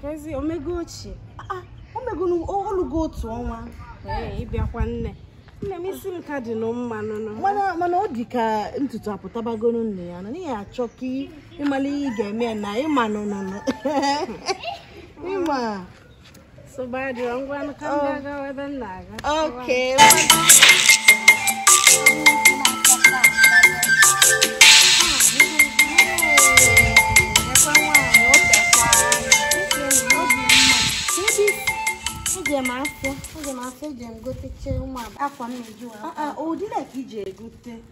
Kezi omego ochie. Ah, omego olugo otu ọnwa. Ee, ị bịakwa nne. Nne m isi m ka dị nụ mma nụnụ. Mana mana ọ dị ka ntutu apụtabagoro nne ya na n'ihi achọ ka ị mala ihe ị ga-eme na ịma nụnụnụ. Ịma. Nsogbu adịrọ ngwa nụ ka m oh. ga-agawa ebe nna Okay. Eje m afịa, eje m gotecha ụmụ akwa m na-eyi ụdị ole ka ị je egote.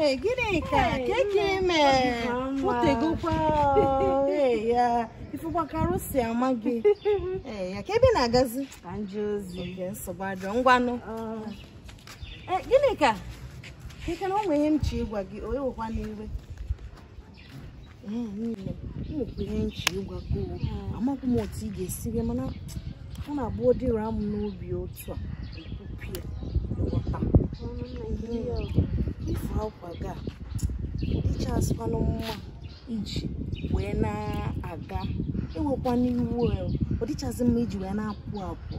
Ee, Ginika Hey, keke nne, ime ọ dị ka mma. pụtegokwa ọ, ee, ya ị fụkwa ka arụ si ama gị Ee, ya kee ebe ị na-agazi ka m jee ozi Oge nsogbu adịrọ ngwanụ Ah, Ee, Ginika keke na o nwere ihe m chọ ịgwa gị o ewekwana iwe nwekwa ihe m chọ ịgwa gị o amaghị m otu ị ga-esi bịa mana ọ na-abụ ọ dịrị a mụ n'obi otu a ekwupụ ya nghọta ife akwa gị adịchazikwanụ mma iji wee na-aga ewekwana iwe ọ dịchazi mma iji wee na-apụ apụ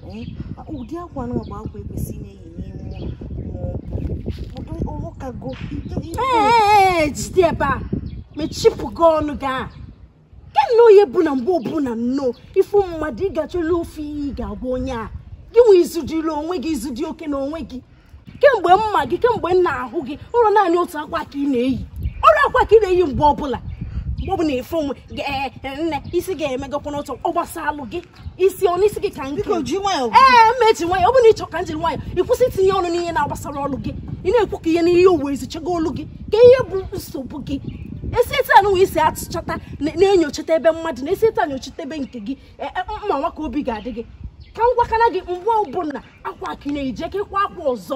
ụdị akwa na bụ akwa e kwesị na-eyi ee jide ebe a mechipụ gị ọnụ gị a ke na onye bụ na mgbe ọbụla nnọọ ị fụ mmadụ ị ga-achọla ofu ihe ị ga-agwa onye a gịnwa i zudiri onwe gị i zudi oke n'onwe gị kemgbe m ma gị kemgbe m na-ahụ gị ọ rọ naanị otu akwa ka ị na-eyi ofu akwa ka ị na-eyi mgbe ọbụla mgbe ọbụla ị fụ m ee nne isi gị emegokwa n'otu ọ gbasalụ gị isi ọ bụ isi gị ka nke biko ji nwayọ ee m ma eji nwayọ ọ bụrụ na ị chọ ka m jiri nwayọ ị kwụsị itinye ọnụ n'ihe na-agbasararọ gị ị na-ekwu ka ihe n'ihe uwe ezichego olu gị kee ihe bụ nsogbu gị esi etu anụwa i si atụchata na-enyochata ebe mmadụ na esi etu a nyochata ebe nke gị e, e, mma nwa ka obi ga-adị gị ka m gwakana gị mgbe ọbụla akwa ka ị na-eyi aka ịkwa akwa ọzọ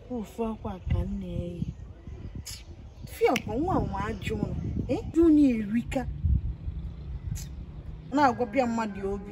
ofu akwa ka m na-eyi fiọkwa nwa nwa ajụ ụlọ ịjụ na erika na-agwapịa mmadụ obi